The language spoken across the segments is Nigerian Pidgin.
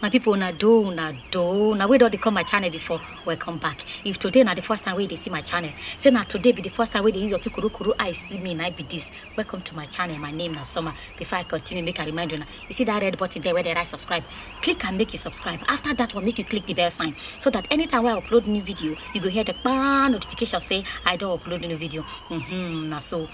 my people una do una do na wey don dey come my channel before welcome back if today na the first time wey you dey see my channel say na today be the first time wey you dey use your two kurukuru eye see me na I be this welcome to my channel my name na summer before i continue make i remind una you see that red button there wey dey write subscribe click am make you subscribe after that one make you click the bell sign so that anytime wey i upload new video you go hear the kpaa notification say i don upload new video mm-hmm, na so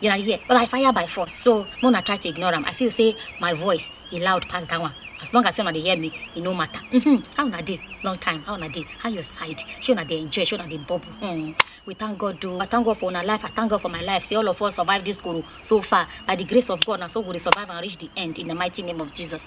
You na dey hear? But I fire by force, so make una try to ignore am. I feel say my voice e loud pass that one. As long as say una dey hear me, e no matter. Mm-hmm. How una dey? Long time. How una dey? How your side? Shey una dey enjoy? Shey una dey bubble? Hmm. We thank God o. I thank God for una life. I thank God for my life. Say all of us survive this koro so far. By the grace of God, na so we go dey survive and reach the end in the mighty name of Jesus.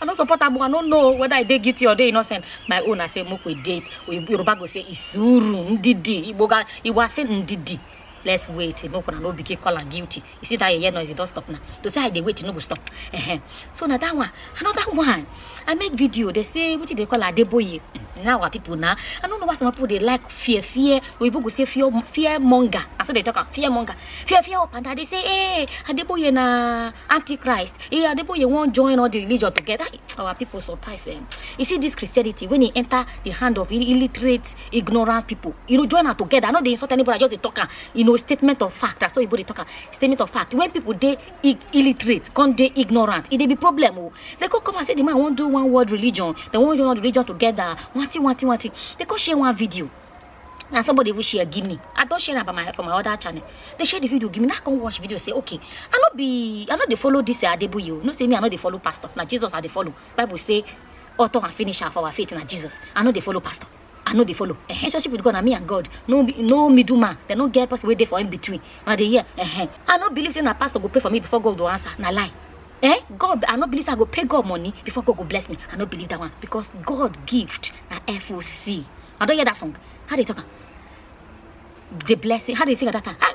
I no support am, I no know whether I dey guilty or dey innocent. My own, I say make we date. Yoruba go say isuru ndidi. Igbo ga Igbo say ndidi. Let's wait. Make una no begin call am guilty. You see that yeye noise, it don stop now. To say I dey wait, e no go stop. Uh-huh. So na that one. Another one. I make video. They say wetin dey call Adeboye. Now our people now. I no know why some people dey like fear fear oyibo go say fear fear monger na so they talk am fear monger fear fear up and down they say hey adeboye na antichrist hey adeboye wan join all the religion together Ah, our people sometimes um, you see this christianity when e enter the hand of ill- illiterate ignorant people you know join am together i no dey insult anybody i just dey talk am you know statement of fact na so oyibo dey talk am statement of fact when people dey illiterate come dey ignorant e dey be problem o they come come and say the man wan do one world religion they wan join all the religion together wanti wanti wanti they come share one video na somebody even share give me i don share am for my for my other channel they share the video give me na i come watch video say okay i no be i no dey follow this uh, adebuyi o no say me i no dey follow pastor na jesus i dey follow bible say author and finisher for our faith na jesus i no dey follow pastor i no dey follow eh relationship with god na me and god no be no middle man dem no get person wey dey for in between una dey hear eh i no believe say na pastor go pray for me before god go answer na lie eh god i no believe say i go pay god money before god go bless me i no believe that one because god gift na foc i don hear that song how they talk am the blessing how they sing at that time ah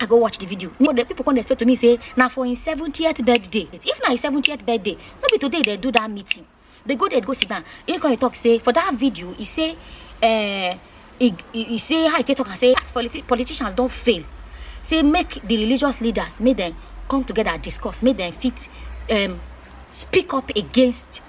i go watch the video no the people come explain to me say na for im seventieth birthday if na im seventieth birthday no be today dey do that meeting dey go there go sit down he come dey talk say for that video he say uh, he, he, he say how he take talk am say as politi politicians don fail say make the religious leaders make dem come together discuss make dem fit um, speak up against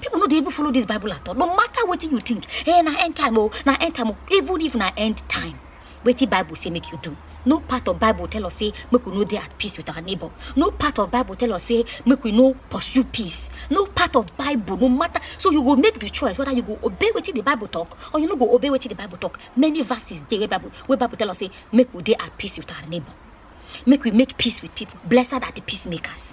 people no dey even follow this bible at all no matter wetin you think eh na end time o na end time o even if na end time wetin bible say make you do no part of bible tell us say make we no dey at peace with our neighbor no part of bible tell us say make we no pursue peace no part of bible no matter so you go make the choice whether you go obey wetin the bible talk or you no go obey wetin the bible talk many verses dey wey bible wey bible tell us say make we dey at peace with our neighbor make we make peace with people blessed are the peacemakers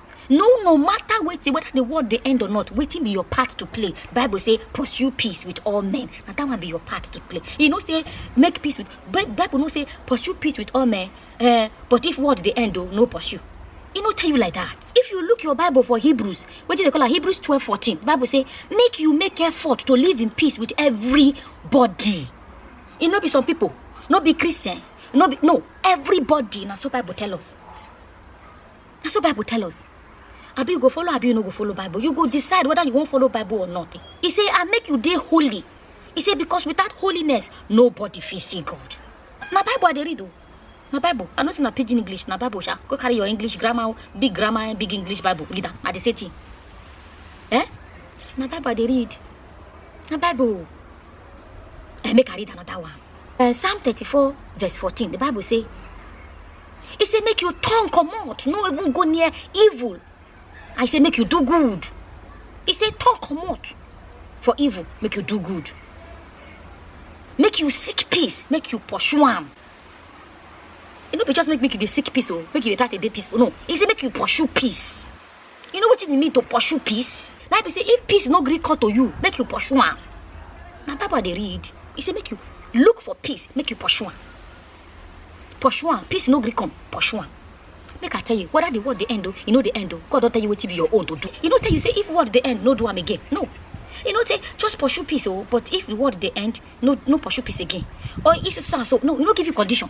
no no matter wetin whether the world dey end or not wetin be your part to play bible say pursue peace with all men na that one be your part to play e no say make peace with Bi- bible no say pursue peace with all men eh, but if world dey end o no pursue e no tell you like that if you look your bible for hebrews wetin dey call am hebrews twelve fourteen bible say make you make effort to live in peace with everybody e no be some people no be christian no be no everybody na so bible tell us na so bible tell us abi you go follow abi you no go follow bible you go decide whether you wan follow bible or not e say i make you dey holy e say because without holiness nobody fit see god na bible i dey read o na bible i no say na pidgin english na bible sha go carry your english grammar o, big grammar and big english bible read am na the same thing eh na bible i dey read na bible o. Eh, make i read another one Eh, psalm thirty-four verse fourteen the bible say He say make your tongue come out, no even go near evil. I say make you do good. He say tongue come out for evil, make you do good. Make you seek peace, make you pursue am. E no be just make make you dey seek peace o, make you dey try to dey peaceful. No, he say make you pursue peace. you know wetin e mean to pursue peace na be say if peace no gree come to you make you pursue am na bible i dey read e say make you look for peace make you pursue am pursue am peace no gree come pursue am make i tell you whether the world dey end o e no dey end o god don tell you wetin be your own to do e no tell you say if world dey end no do am again no e no say just pursue peace o but if the world dey end no no pursue peace again or if so so and so no e no give you condition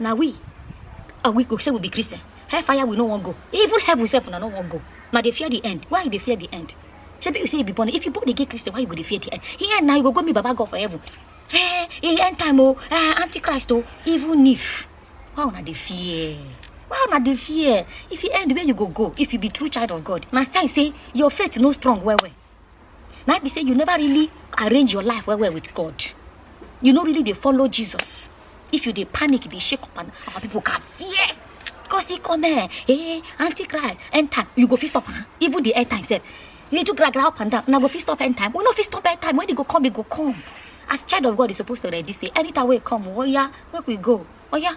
na we are we go say we be christian hellfire we no wan go even heaven sef una no wan go na dey fear the end why you dey fear the end shebi you say you be born if you born again christian why you go dey fear the end here na you go go meet baba god for heaven eh e end time o eh antichrist o even if why una dey fear why una dey fear if e end where you go go if you be true child of god na sign say your faith no strong well well na be say you never really arrange your life well well with god you no really dey follow jesus if you dey panic dey shake up and our people can fear because he come eh eh aunty cry end time you go fit stop am even the end time sef you too gragra up and down una go fit stop end time we no fit stop end time when e go come e go come as child of god you suppose to ready say anytime wey e come oya make we go oya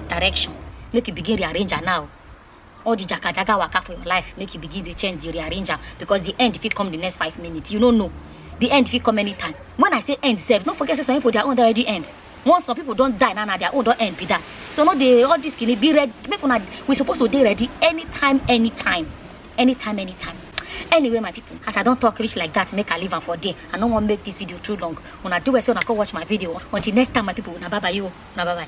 direction make you begin rearrange am now all the jagajaga waka for your life make you begin dey change dey rearrange am because the end fit come the next five minutes you no know the end fit come anytime when i say end sef no forget say some people their own don already end once some people don die now na their own don end be that so no dey all this kini be ready make una we suppose to dey ready anytime anytime anytime anytime anyway my people as i don talk reach like that make i leave am for there i no wan make this video too long una do well say una come watch my video until next time my people una bye bye you una bye bye.